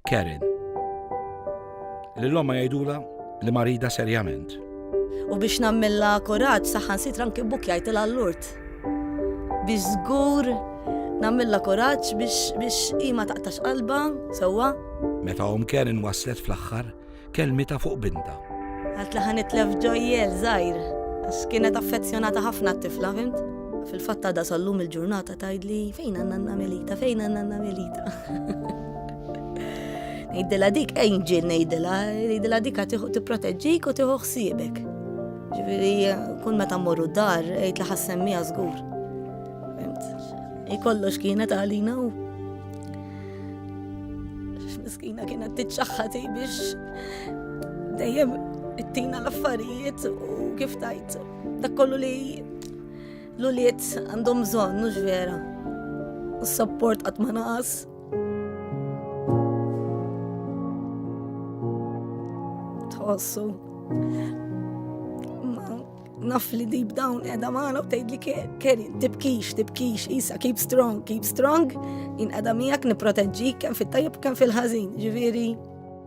Karen. Lil omma jgħidula li marida serjament. U biex nammilla kuraġġ saħħan sitra anki buk jgħidilha l-lurt. Biex żgur nammilla kuraġġ biex biex ima taqtax qalba sewwa. Meta om Karen waslet fl-aħħar, kelmitha fuq bintha. Għalt li ħanitlef ġojjel żgħir, għax kienet affezzjonata ħafna t-tifla, fimt? Fil-fatt għadha sallum il-ġurnata tgħidli fejn għandna nanna Melita, fejn għandna nanna Melita. Ngħidilha dik angel ngħidilha, ngħidilha dik tipproteġġik u tieħu ħsiebek. Ġifieri kun meta mmorru dar, għid li ħassemmija żgur. Ikollox kienet għalina u Miskina kienet tiċċaħħati biex dejjem it-tina l-affarijiet u kif tajt dak kollu li l-uliet għandhom bżonn, mhux vera. U s-sapport qatt ma naqas. Tħossu. Naf li deep down edha maħna u tgħid li keri, tibkix, tibkix, isa, keep strong, keep strong, in edha miegħek niproteġġi kemm fit-tajjeb kemm fil-ħażin, ġifieri.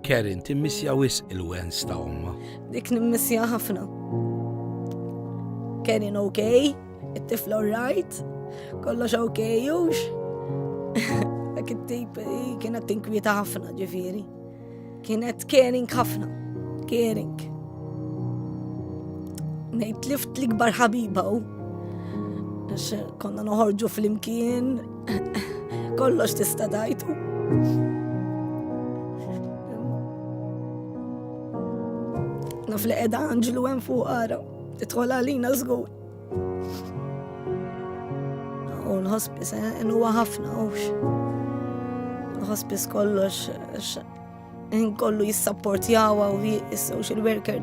Kerin, timmissja wis il-wens ta' omma. Dik nimmissja ħafna. Kerin ok, it-tifla right, kollox ok, jux. Dak it-tip kienet tinkwieta ħafna ġifieri. Kienet caring ħafna, caring. Nejt lift l-ikbar ħabiba u konna noħorġu fl-imkien, kollox tista dajtu. Naf li edha Anġlu hemm fuq ara, titħol għalina żgur. U l-hospice eh, huwa ħafna hux. Il-hospice kollox eh, kollu jissapportjawa u social worker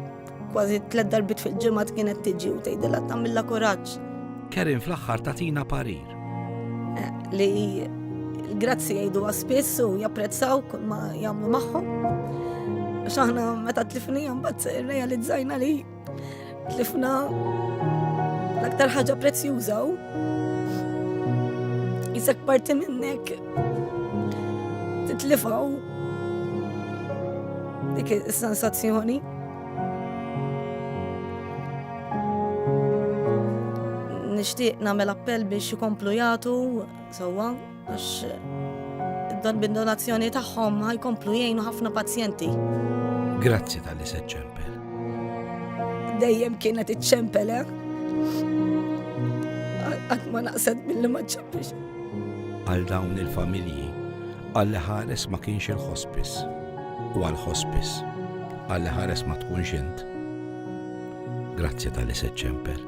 kważi tlet darbit fil-ġimgħa kienet tiġi u tgħidilha tagħmilha kuraġġ. Kerin fl-aħħar tatina parir. Eh, li grazzi jgħidu għaspis u japprezzaw kull ma jagħmlu magħhom. X'aħna meta tlifnijhom bat realizzajna li Tlifna l-aktar ħaġa prezzjuża u jisek parti minnek titlifaw dik is-sensazzjoni. Nixtieq nagħmel appell biex ikomplu jagħtu sewwa Għax dan bin-donazzjoni tagħhom ħajkomplu jgħinu ħafna pazjenti. Grazzi tal-li se ċempel. Dejjem kienet iċċempel, eh? Għad ma naqset mill-li ma ċempelx. Għal dawn il-familji, għal ħares ma kienx il-ħospis u għal ħospis għal ħares ma tkunx int. Grazzi tal-li se ċempel.